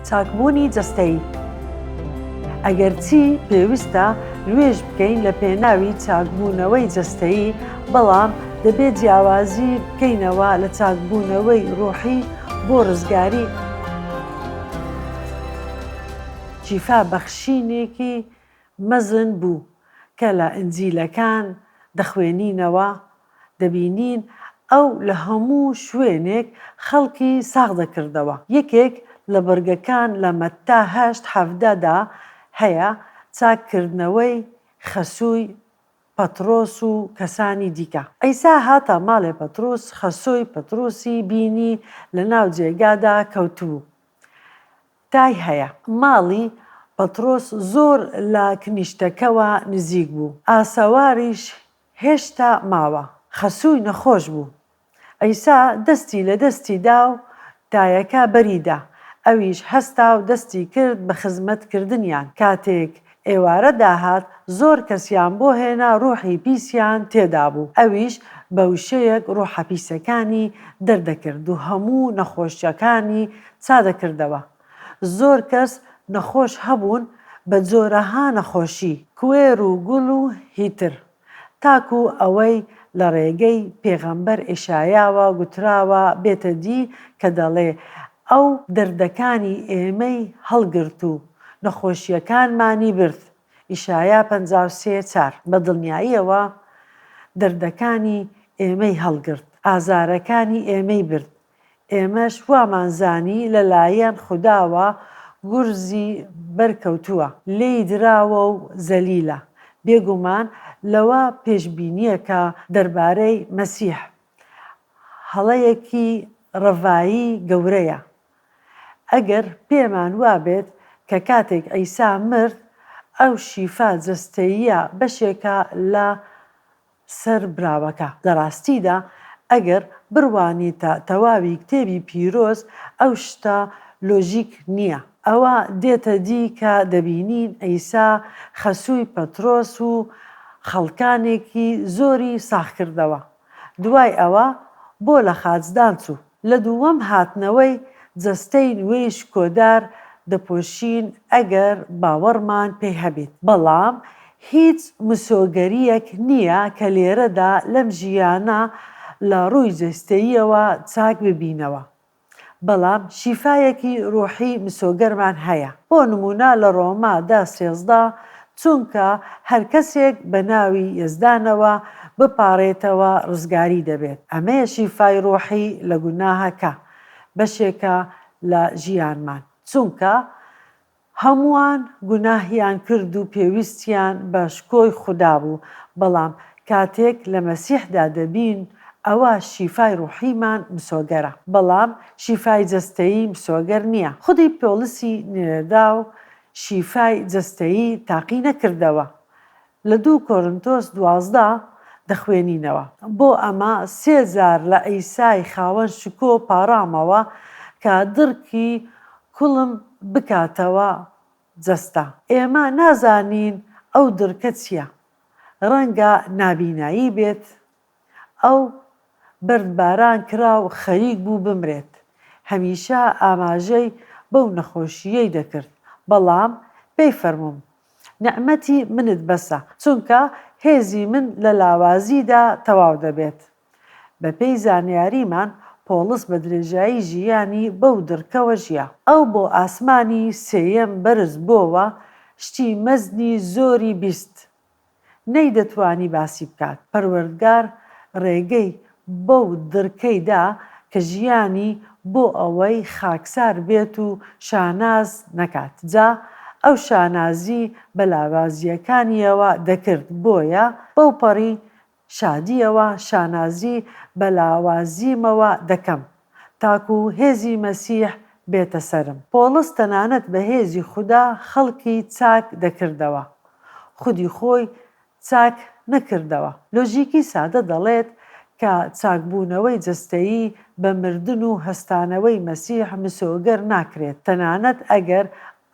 چاکبوونی جەستەیی، ئەگەرچی پێویستە نوێژ بکەین لە پێناوی چاکبوونەوەی جەستەیی، بەڵام دەبێت جیاوازی بکەینەوە لە چاکبوونەوەی ڕۆحی بۆ ڕزگاری، شیفا بەخشینێکی مەزن بوو کە لە ئینجیلەکان دەخوێنینەوە، دەبینین ئەو لە هەموو شوێنێک خەڵکی ساغ دەکردەوە. یەکێک لە بڕگەکان لە مەتا هەشت حەڤدە دا هەیە، چاککردنەوەی خەسووی پەتڕۆس و کەسانی دیکە. عیسا هاتە ماڵێ پەتڕوس، خەسووی پەتڕوسی بینی لە ناو جێگادا کەوتبوو. تای هەیە. ماڵی پەتڕۆس زۆر لە کنیشتەکەوە نزیک بوو، ئاسەواریش هێشتا ماوە. خەسووی نەخۆش بوو. عیسا دەستی لە دەستی دا و تایەکە بەری دا. ئەویش هەستا و دەستی کرد بە خزمەت کردنیان. کاتێک ئێوارە داهات، زۆر کەسیان بۆ هێنا ڕووحی پیسیان تێدا بوو. ئەویش بە وشەیەک ڕووحە پیسەکانی دەردەکرد و هەموو نەخۆشەکانی چادەکردەوە. زۆر کەس نەخۆش هەبوون بە جۆرەها نەخۆشی، کوێر و گوڵ و هی تر، تاکو ئەوەی لە ڕێگەی پێغەمبەر ئێشایاوە گوتراوە بێتە دی کە دەڵێ، ئەو دەردەکانی ئێمەی هەڵگرت و نەخۆشییەکانمانی برد، ئیشایا پەنجا و سێ، چار، بە دڵنیاییەوە دەردەکانی ئێمەی هەڵگرت، ئازارەکانی ئێمەی برد، ئێمەش وامان زانی لەلایەن خوداوە گورزی بەرکەوتووە، لێی دراوە و زەلیلە. بێگومان لەوە پێشبینییە کە دەربارەی مەسیح هەڵەیەکی ڕەڤایی گەورەیە ئەگەر پێمان وابێت کە کاتێک عیسا مرد ئەو شیفا جەستەییە بەشێکە لە سەر براوەکە، لە ڕاستیدا ئەگەر بڕوانیتە تەواوی کتێبی پیرۆز ئەو شتە لۆژیک نییە، ئەوە دێتە دی کە دەبینین عیسا خەسووی پەترۆس و خەڵکانێکی زۆری ساخ کردەوە، دوای ئەوە بۆ لە خاچدان چوو؟ لە دووەم هاتنەوەی جەستەی نوێی شکۆدار دەپۆشین ئەگەر باوەڕمان پێی هەبیت، بەڵام هیچ مسۆگەریەک نیە کە لێرەدا لەم ژیانە لە ڕووی جەستەییەوە چاک ببینەوە، بەڵام شیفایەکی ڕوحی مسۆگەرمان هەیە، بۆ نمونە لە ڕۆما دا سێزدە چونکە هەرکەسێک بەناوی یەزدانەوە بپاڕێتەوە ڕزگاری دەبێت ئەمەیە شیفای ڕۆحی لە گوناهە کە بەشێکە لە ژیانمان چونکە هەمووان گوناهیان کردو پێویستیان بە شکۆی خودا بوو بەڵام کاتێک لە مەسیحدا دەبین ئەوە شیفای ڕۆحیمان مسۆگەرە بەڵام شیفای جەستەیی مسۆگەر نیە خودی پۆڵسی نوێنەراو شیفای جەستەیی تاقی نەکردەوە. لە دوو کۆرنتۆس دوازدە دەخوێنینەوە. بۆ ئەمە سێ جار لە عیسای خاوەن شکۆ پاڕامەوە کە دڕکی کوڵم بکاتەوە جەستە. ئێمە نازانین ئەو دڕکە چییە. ڕەنگە نابینایی بێت. ئەو بەردباران کرا و خەریک بوو بمرێت، هەمیشە ئاماژەی بەو نەخۆشییەی دەکرد، بەڵام پێی فەرمووم، نیعمەتی منت بەسە، چونکە هێزی من لە لاوازیدا تەواو دەبێت. بەپێی زانیاریمان پۆڵس بە درێژایی ژیانی بەو دڕکەوە ژیا. ئەو بۆ ئاسمانی سێیەم بەرز بۆوە، شتی مەزنی زۆری بیست، نەیدەتوانی باسی بکات، پەروەردگار ڕێگەی بەو دڕکەی دا کە ژیانی بۆ ئەوەی خاکسار بێت و شاناز نەکات جا ئەو شانازی بە لاوازییەکانییەوە دەکرد بۆیە بەوپەڕی شادییەوە شانازی بە لاوازیمەوە دەکەم تاکو هێزی مەسیح بێتە سەرم. پۆڵس تەنانەت بە هێزی خودا خەڵکی چاک دەکردەوە. خودی خۆی چاک نەکردەوە. لۆژیکی سادە دەڵێت کە چاکبوونەوەی جەستەیی بە مردن و هەستانەوەی مەسیح مسۆگەر ناکرێت، تەنانەت ئەگەر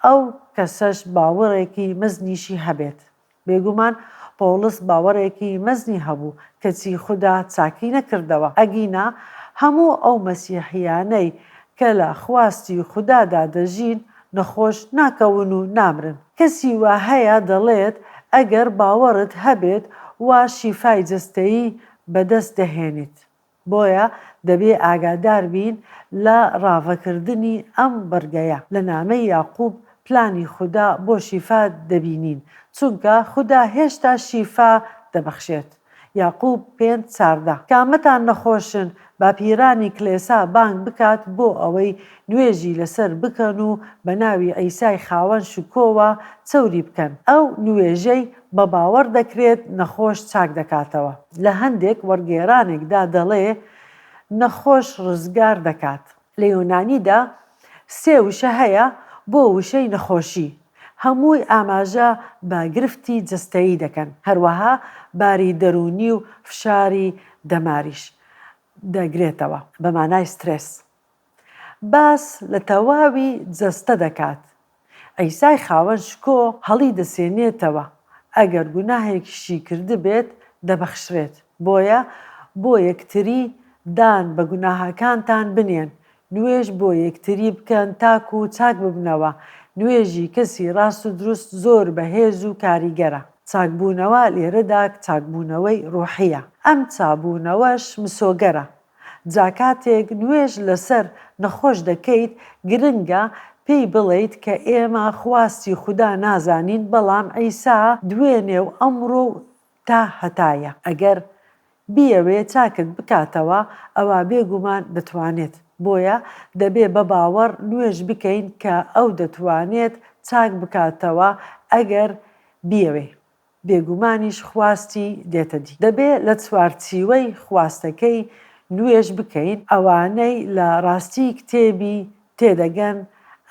ئەو کەسەش باوەڕێکی مەزنیشی هەبێت. بێگومان پۆڵس باوەڕێکی مەزنی هەبوو، کەچی خودا چاکی نەکردەوە، ئەگینا هەموو ئەو مەسیحییانەی کە لە خواستی خودادا دەژین، نەخۆش ناکەون و نامرن. کەسی وا هەیە دەڵێت، ئەگەر باوەڕت هەبێت وا شیفای جەستەیی بەدەست دەهێنیت. بۆیە دەبێ ئاگادار بین لە ڕاڤەکردنی ئەم بڕگەیە، لە نامەی یاقوب پلانی خودا بۆ شیفا دەبینین، چونکە خودا هێشتا شیفا دەبەخشێت. یاقوب پێنج چاردە، کامەتان نەخۆشن، با پیرانی کلێسا بانگ بکات بۆ ئەوەی نوێژی لەسەر بکەن و بە ناوی عیسای خاوەن شکۆوە چەوری بکەن، ئەو نوێژەی بە باوەڕ دەکرێت نەخۆش چاک دەکاتەوە، لە هەندێک وەرگێرانێکدا دەڵێ نەخۆش ڕزگار دەکات. لە یۆنانیدا سێ وشە هەیە بۆ وشەی نەخۆشی، هەمووی ئاماژە بە گرفتی جەستەیی دەکەن، هەروەها باری دەروونی و فشاری دەماریش دەگرێتەوە، بە مانای سترێس. باس لە تەواوی جەستە دەکات. عیسای خاوەن شکۆ هەڵیدەسێنێتەوە، ئەگەر گوناهێکیشی کردبێت دەبەخشرێت، بۆیە بۆ یەکتری دان بە گوناهەکانتان بنێن، نوێژ بۆ یەکتری بکەن تاکو چاک ببنەوە، نوێژی کەسی ڕاست و دروست زۆر بەهێز و کاریگەرە. چاکبوونەوە لێرەدا چاکبوونەوەی ڕۆحییە، ئەم چابوونەوەش مسۆگەرە، جا کاتێک نوێژ لەسەر نەخۆش دەکەیت گرنگە پێی بڵێیت کە ئێمە خواستی خودا نازانین بەڵام عیسا دوێنێ و ئەمڕۆ و تا هەتایە. ئەگەر بیەوێت چاکت بکاتەوە ئەوا بێگومان دەتوانێت. بۆیە دەبێت بە باوەڕ نوێژ بکەین کە ئەو دەتوانێت چاک بکاتەوە ئەگەر بیەوێت. بێگومانیش خواستی دێتە دی. دەبێ لە چوارچیوەی خواستەکەی نوێژ بکەین، ئەوانەی لە ڕاستی کتێبی تێدەگەن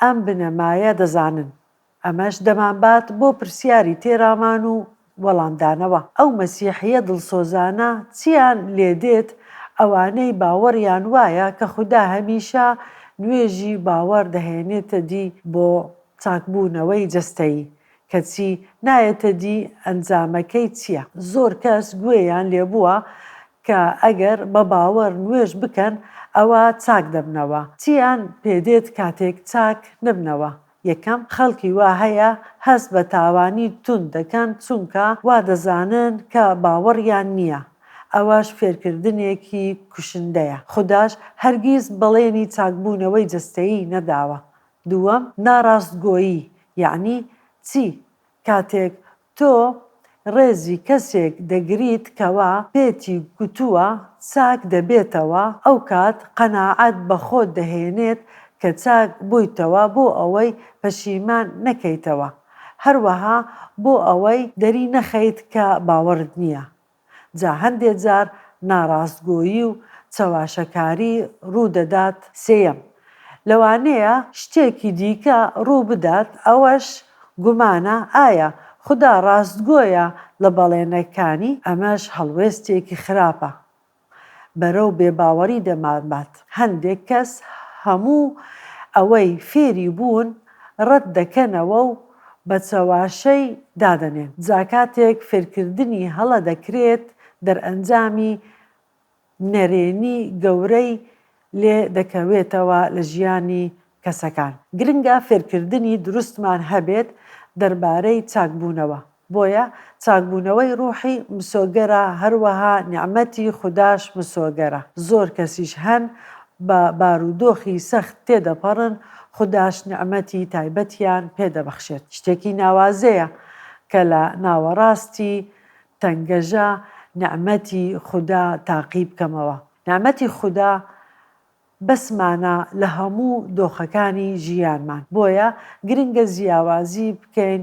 ئەم بنەمایە دەزانن، ئەمەش دەمانبات بۆ پرسیاری تێرامان و وەڵامدانەوە، ئەو مەسیحییە دڵسۆزانە چییان لێدێت ئەوانەی باوەڕیان وایە کە خودا هەمیشە نوێژی باوەڕ دەهێنێتە دی بۆ چاکبوونەوەی جەستەیی، کەچی نایەتە دی ئەنجامەکەی چیە؟ زۆر کەس گوێیان لێبووە کە ئەگەر بە باوەڕ نوێژ بکەن ئەوا چاک دەبنەوە، چییان پێدێت کاتێک چاک نەبنەوە؟ یەکەم، خەڵکی وا هەیە هەست بە تاوانی توند دەکەن چونکە وا دەزانن کە باوەڕیان نییە، ئەوەش فێرکردنێکی کوشندەیە، خوداش هەرگیز بەڵێنی چاکبوونەوەی جەستەیی نەداوە، دووەم، ناڕاستگۆیی یەعنی چی؟ کاتێک تۆ ڕێزی کەسێک دەگریت کەوا پێتی گوتووە چاک دەبێتەوە ئەوکات قەناعەت بەخۆت دەهێنێت کە چاک بوویتەوە بۆ ئەوەی پەشیمان نەکەیتەوە هەروەها بۆ ئەوەی دەری نەخەیت کە باوەڕت نییە جا هەندێ جار ناڕاستگۆیی و چەواشەکاری ڕوو دەدات سێیەم، لەوانەیە شتێکی دیکە ڕوو بدات ئەوەش گومانە ئایا خودا ڕاستگۆیە لە بەڵێنەکانی ئەمەش هەڵوێستێکی خراپە بەرەو بێباوەڕی دەمانبات هەندێک کەس هەموو ئەوەی فێری بوون ڕەت دەکەنەوە و بە چەواشەی دادەنێن جا کاتێک فێرکردنی هەڵە دەکرێت دەرئەنجامی نەرێنی گەورەی لێ دەکەوێتەوە لە ژیانی کەسەکان گرنگە فێرکردنی دروستمان هەبێت دەربارەی چاکبوونەوە بۆیە چاکبوونەوەی ڕوحی مسۆگەرە هەروەها نیعمەتی خوداش مسۆگەرە زۆر کەسیش هەن بە بارودۆخی سەخت تێدەپەڕن، خوداش نیعمەتی تایبەتیان پێ دەبەخشێت. شتێکی ناوازەیە کە لە ناوەڕاستی تەنگەژە نیعمەتی خودا تاقی بکەمەوە. نیعمەتی خودا بەسمانە لە هەموو دۆخەکانی ژیانمان، بۆیە گرنگە جیاوازی بکەین